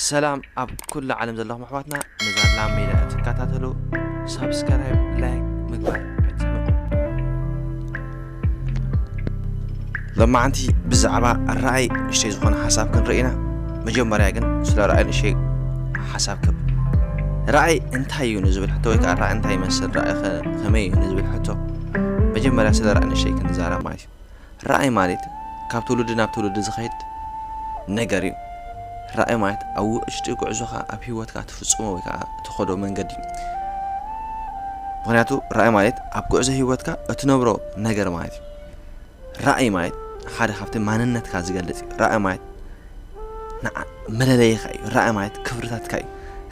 ሰላም ኣብ ኩሉ ዓለም ዘለኹም ኣሕዋትና ነዛ ላም ሜዳ እትከታተሉ ሳብስክራይብ ላይክ ምግባር ኣይትንኡ ሎማዓንቲ ብዛዕባ ራእይ ንእሽተይ ዝኾነ ሓሳብ ክንርኢ ኢና መጀመርያ ግን ስለ ራእይ ንእሽተይ ሓሳብ ክብ ራእይ እንታይ እዩ ንዝብል ሕቶ ወይ ከዓ ራእይ እንታይ ይመስል ራእይ ከመይ እዩ ንዝብል ሕቶ መጀመርያ ስለ ራእይ ንእሽተይ ክንዛረብ ማለት እዩ ራእይ ማለት ካብ ትውልዲ ናብ ትውልዲ ዝኸድ ነገር እዩ። ራእይ ማለት ኣብ ውሽጢ ጉዕዞኻ ኣብ ህይወትካ ትፍጽሞ ወይ ከዓ ትኸዶ መንገዲ እዩ። ምክንያቱ ራእይ ማለት ኣብ ጉዕዞ ህይወትካ እትነብሮ ነገር ማለት እዩ። ራእይ ማለት ሓደ ካብቲ ማንነትካ ዝገልጽ እዩ። ራእይ ማለት መለለይኻ እዩ ራእይ ማለት ክብርታትካ እዩ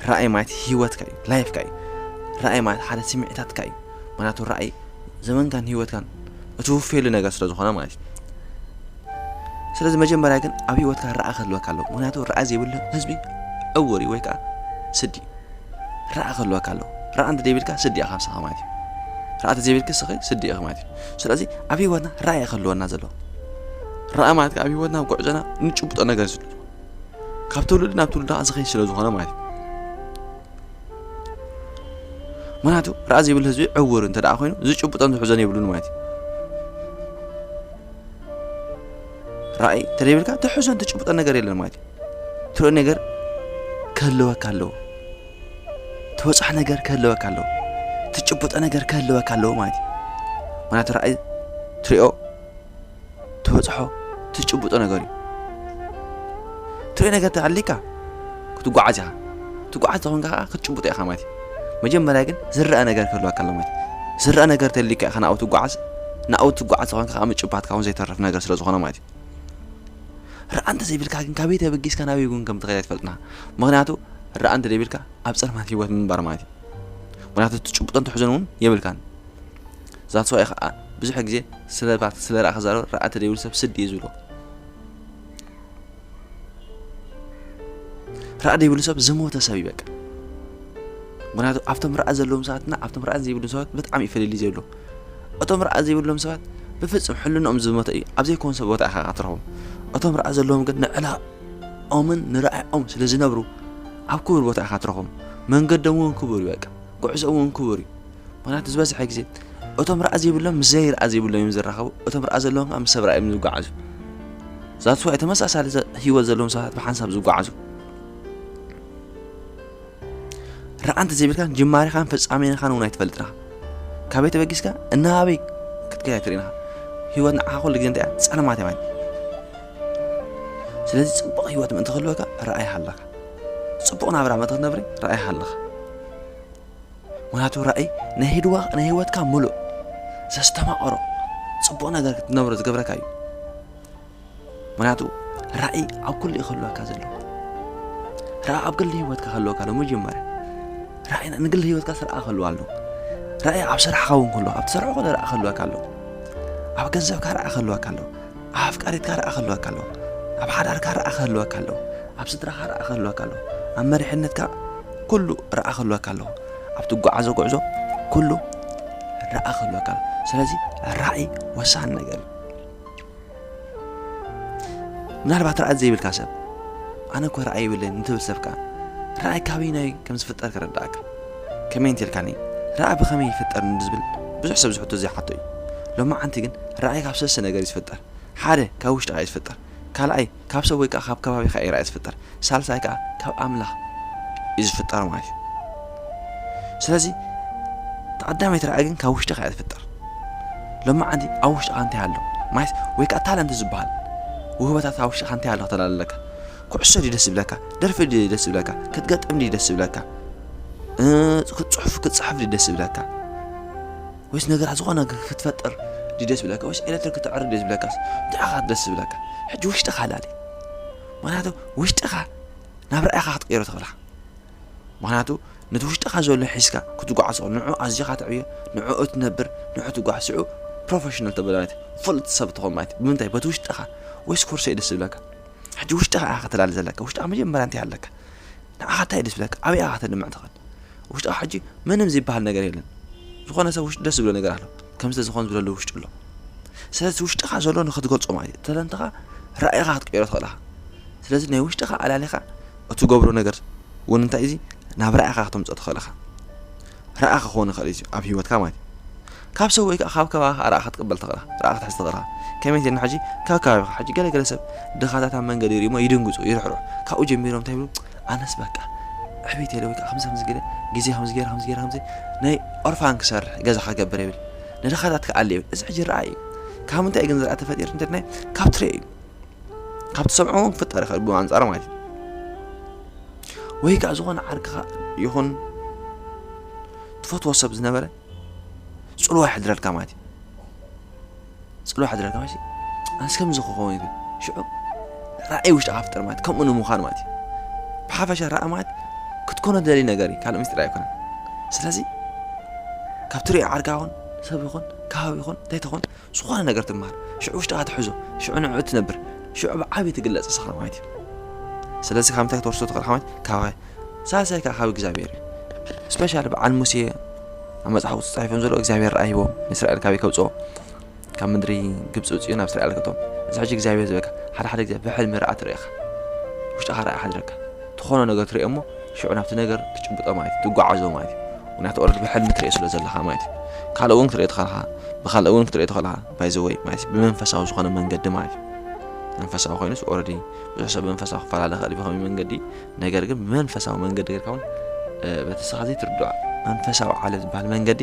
ራእይ ማለት ሂወትካ እዩ ላይፍካ እዩ ራእይ ማለት ሓደ ስምዒታትካ እዩ ምክንያቱ ራእይ ዘመንካን ሂወትካን እቲ ውፌሉ ነገር ስለ ዝኾነ ማለት እዩ ስለዚ መጀመርያ ግን ኣብ ሂወትካ ራኣ ክህልወካ ኣለዎ ምክንያቱ ራኣ ዘይብሉ ህዝቢ ዕውር እዩ ወይ ከዓ ስዲ ራኣ ክህልወካ ኣለዎ ራኣ እንተ ዘይብልካ ስዲ ኢኻ ብስኻ ማለት እዩ ራኣ ተዘይብልክ ስኺ ስዲ ኢኺ ማለት እዩ ስለዚ ኣብ ሂወትና ራኣ እዩ ክህልወና ዘለዎ ራኣ ማለት ኣብ ሂወትና ኣብ ጉዕዞና ንጭብጦ ነገር ስሉ ካብ ትውልዲ ናብ ትውልዲ ዝኸይድ ስለ ዝኾነ ማለት እዩ ምክንያቱ ራኣ ዘይብሉ ህዝቢ ዕውር እንተ ኮይኑ ዝጭብጦን ዝሕዞን የብሉን ማለት እዩ ራእይ እንተደይብልካ ትሕዞን ትጭብጦን ነገር የለን ማለት እዩ ትርኢ ነገር ክህልወካ ኣለዎ ትበፅሖ ነገር ክህልወካ ኣለዎ ትጭብጦ ነገር ክህልወካ ኣለዎ ማለት እዩ ምክንያቱ ራእይ ትሪኦ ትበጽሖ ትጭብጦ ነገር እዩ። ትርእዮ ነገር እንተ ኣልካ ክትጓዓዝ ኢኻ። ትጓዓዝ እንተ ኾንካ ከኣ ክትጭብጦ ኢኻ ማለት እዩ። መጀመርያ ግን ዝረኣ ነገር ክህልወካ ኣሎ ማለት እዩ። ዝረኣ ነገር እንተ ኣልካ ኢኻ ናብኡ ትጓዓዝ። ናብኡ ትጓዓዝ እንተ ኾንካ ከኣ ምጭባትካ እውን ዘይተርፍ ነገር ስለ ዝኾነ ማለት እዩ። ረኣ እንተ ዘይብልካ ግን ካበይ ተበጊስካ ናበይ እውን ከም ትኸይድ ኣይትፈልጥን ኢኻ። ምኽንያቱ ረኣ እንተ ዘይብልካ ኣብ ጸልማት ህይወት ምንባር ማለት እዩ። ምኽንያቱ ትጭብጦን ትሕዝን እውን የብልካን። That's why ከኣ ብዙሕ ግዜ ስለባት ስለ ራኣ ክዛረብ ራኣቲ ደይብሉ ሰብ ስዲ እዩ ዝብሎ ራኣ ደይብሉ ሰብ ዝሞተ ሰብ ይበቃ ምክንያቱ ኣብቶም ራኣ ዘለዎም ሰባትና ኣብቶም ራኣ ዘይብሉ ሰባት ብጣዕሚ እዩ ፍልልይ ዘሎ እቶም ራኣ ዘይብሎም ሰባት ብፍጹም ሕልንኦም ዝሞተ እዩ ኣብ ዘይኮን ሰብ ቦታ ኢኻ ክትረኽቦም እቶም ራኣ ዘለዎም ግን ንዕላኦምን ንራኣኦም ስለ ዝነብሩ ኣብ ክቡር ቦታ ኢኻ ትረኽቦም መንገዶም እውን ክቡር እዩ በቃ ጉዕዞኦም እውን ክቡር እዩ ምክንያቱ ዝበዝሐ ግዜ እቶም ራእ ዘይብሎም ምስ ዘይርኣ ዘይብሎም እዮም ዝራኸቡ እቶም ራእ ዘለዎም ከዓ ምስ ሰብ ራእ እዮም ዝጓዓዙ ዛት ዋይ ተመሳሳሊ ሂወት ዘለዎም ሰባት ብሓንሳብ ዝጓዓዙ ራእ እንተ ዘይብልካን ጅማሬኻን ፍጻሜኻን እውን ኣይትፈልጥን ኢኻ ካበይ ተበጊስካ እናበይ ክትከይ ኣይትርእን ኢኻ ሂወት ንዓኻ ኩሉ ግዜ እንታይ እያ ጸልማት እያ ስለዚ ጽቡቕ ሂወት ምእንቲ ክህልወካ ራእይ ሃለካ ጽቡቕ ናብራ ምእንቲ ክትነብሪ ራእይ ሃለኻ ምክንያቱ ራእይ ናይ ህድዋ ናይ ህይወትካ ምሉእ ዘስተማቐሮ ጽቡቕ ነገር ክትነብሮ ዝገብረካ እዩ ምክንያቱ ራእይ ኣብ ኩሉ እዩ ክህልወካ ዘለዎ ራእይ ኣብ ግሊ ህይወትካ ክህልወካ ኣሎ መጀመርያ ራእይ ንግሊ ህይወትካ ስርኣ ክህልዋ ኣሎ ራእይ ኣብ ስራሕካ እውን ክህልወካ ኣብ ትሰርሖ ኮነ ራእይ ክህልወካ ኣሎ ኣብ ገንዘብካ ራእይ ክህልወካ ኣሎ ኣብ ኣፍቃሪትካ ረኣ ክህልወካ ኣለዎ ኣብ ሓዳርካ ረኣ ክህልወካ ኣለዎ ኣብ ስድራኻ ረኣ ክህልወካ ኣለዎ ኣብ መሪሕነትካ ኩሉ ረኣ ክህልወካ ኣለዎ ኣብ ትጓዓዞ ጉዕዞ ኩሉ ረኣ ክህልወካ ኣለዎ ስለዚ ራእይ ወሳኒ ነገር እዩ ምናልባት ራእይ ዘይብልካ ሰብ ኣነ እኮ ራእይ ይብለኒ ንትብል ሰብ ከዓ ራእይ ካበይናይ ከም ዝፍጠር ክረዳእካ ከመይ እንተልካኒ ራኢ ብኸመይ ይፍጠር ንዝብል ብዙሕ ሰብ ዝሕቶ ዘይሓቶ እዩ። ሎማዓንቲ ግን ራኢ ካብ ሰለስተ ነገር እዩ ዝፍጠር። ሓደ ካብ ውሽጥኻ እዩ ዝፍጠር። ካልኣይ ካብ ሰብ ወይ ከኣ ካብ ከባቢኻ እዩ ራኢ ዝፍጠር። ሳልሳይ ከኣ ካብ ኣምላኽ እዩ ዝፍጠር ማለት እዩ። ስለዚ እታ ቀዳመይቲ ራኢ ግን ካብ ውሽጥኻ እያ ዝፍጠር። ሎማዓንቲ ኣብ ውሽጥኻ እንታይ ኣሎ ማለት ወይ ከኣ ታለንት ዝበሃል ውህበታት ኣብ ውሽጥኻ እንታይ ኣሎ ክትብል ኣለካ። ኩዕሶ ድዩ ደስ ዝብለካ ደርፊ ድዩ ደስ ዝብለካ ክትገጥም ድዩ ደስ ዝብለካ ጽሑፍ ክትጽሕፍ ድዩ ደስ ዝብለካ ወይስ ነገራት ዝኾነ ክትፈጥር ድዩ ደስ ዝብለካ ወይስ ኤሌክትሪክ ክትዕርብ ድዩ ዝብለካ ንዓኻ ደስ ዝብለካ ሕጂ ውሽጥኻ ላሊ ምክንያቱ ውሽጥኻ ናብ ርኣኻ ክትቀይሮ ትኽእልኻ ምክንያቱ ነቲ ውሽጥኻ ዘሎ ሒዝካ ክትጓዓዝ ትኽእል ንዑ ኣዚኻ ትዕብዮ ንዑ እትነብር ንዑ ትጓዓዝ ሽዑ ፕሮፌሽናል ተበላለት ፍሉጥ ሰብ ትኾን ማለት ብምንታይ በቲ ውሽጥኻ ወይስ ኮርሶ ደስ ዝብለካ ሕጂ ውሽጥኻ ኢኻ ከተላሊ ዘለካ ውሽጥኻ መጀመርያ እንታይ ኣለካ ንዓኻ እንታይ ደስ ብለካ ኣበይ ኢኻ ከተድምዕ ትኽእል ውሽጥኻ ሕጂ ምንም ዝበሃል ነገር የለን ዝኾነ ሰብ ውሽጢ ደስ ዝብሎ ነገር ኣሎ ከም ስለ ዝኾን ዝብለሉ ውሽጢ ኣሎ ስለዚ ውሽጥኻ ዘሎ ንክትገልጾ ማለት እዩ ተለንትኻ ራእይኻ ክትቀይሮ ትኽእል ኢኻ ስለዚ ናይ ውሽጥኻ ኣላሊኻ እትገብሮ ነገር እውን እንታይ እዚ ናብ ራእይኻ ከተምፅኦ ትኽእል ኢኻ ረኣ ክኸውን ይኽእል እዩ ኣብ ህይወትካ ማለት እዩ ካብ ሰብ ወይ ከኣ ካብ ከባቢኻ ረኣ ክትቅበል ትኽእል ኢኻ ረኣ ክትሕዝ ትኽእል ኢኻ ከመይ እንተልና ሕጂ ካብ ከባቢኻ ሕጂ ገለ ገለ ሰብ ድኻታት ኣብ መንገዲ ይርእዩሞ ይድንግጹ ይርሕርሑ ካብኡ ጀሚሮም እንታይ ይብሉ ኣነስ በቃ ዕብየት የለ ወይ ከኣ ከምዚ ከምዚ ገለ ግዜ ከምዚ ገይረ ከምዚ ገይረ ከምዚ ናይ ኦርፋን ክሰርሕ ገዛ ክገብር ይብል ንድኻታት ክኣሊ ይብል እዚ ሕጂ ረኣ እዩ ካብ ምንታይ ግን ዝረኣ ተፈጢሩ እንተድናይ ካብ ትሬ እዩ ካብ ትሰምዖ እውን ክፍጠር ይኽእል ብኣንጻር ማለት እዩ ወይ ከዓ ዝኾነ ዓርክኻ ይኹን ትፈትዎ ሰብ ዝነበረ ፅልዋ ይሕድረልካ ማለት እዩ ፅልዋ ይሕድረልካ ማለት እዩ ኣንስ ከምዚ ክኸውን ይብል ሽዑ ራእይ ውሽጥኻ ፍጠር ማለት ከምኡ ንምዃን ማለት እዩ ብሓፈሻ ራእይ ማለት ክትኮኖ ደሊ ነገር እዩ ካልእ ምስጢር ኣይኮነን ስለዚ ካብ ትሪኦ ዓርካ ይኹን ሰብ ይኹን ከባቢ ይኹን እንታይ ትኹን ዝኾነ ነገር ትማሃር ሽዑ ውሽጥኻ ትሕዞ ሽዑ ንዕዑ ትነብር ሽዑ ብዓብይ ትግለጽ ንስኻ ማለት እዩ ስለዚ ካብ ምንታይ ክትወርሶ ትኽእል ሓማት ካባይ ሳልሳይ ከዓ ካብ እግዚኣብሔር እዩ ስፔሻሊ በዓል ሙሴ ኣብ መፅሓፉ ተፃሒፎም ዘሎ እግዚኣብሔር ረኣ ሂቦም ንእስራኤል ካበይ ከብፅኦ ካብ ምድሪ ግብፂ ውፅኡ ናብ እስራኤል ከቶም እዚ ሕጂ እግዚኣብሔር ዝበካ ሓደ ሓደ ግዜ ብሕልሚ ረኣ ትርእኻ ውሽጥኻ ረኣ ሓድረካ ትኾኖ ነገር ትርእዮ እሞ ሽዑ ናብቲ ነገር ትጭብጦ ማለት እዩ ትጓዓዞ ማለት እዩ ምክንያቱ ኦረዲ ብሕልሚ ትሪኦ ስለ ዘለካ ማለት እዩ ካልእ እውን ክትሪኦ ተኸልካ ብካልእ እውን ክትሪኦ ተኸልካ ባይዘወይ ማለት እዩ ብመንፈሳዊ ዝኾነ መንገዲ ማለት እዩ መንፈሳዊ ኮይኑስ ኦረዲ ብዙሕ ሰብ መንፈሳዊ ክፈላለ ክእል ብከመይ መንገዲ ነገር ግን ብመንፈሳዊ መንገዲ ጌርካ እውን በቲ ስኻ ዘይትርድዖ መንፈሳዊ ዓለም ዝበሃል መንገዲ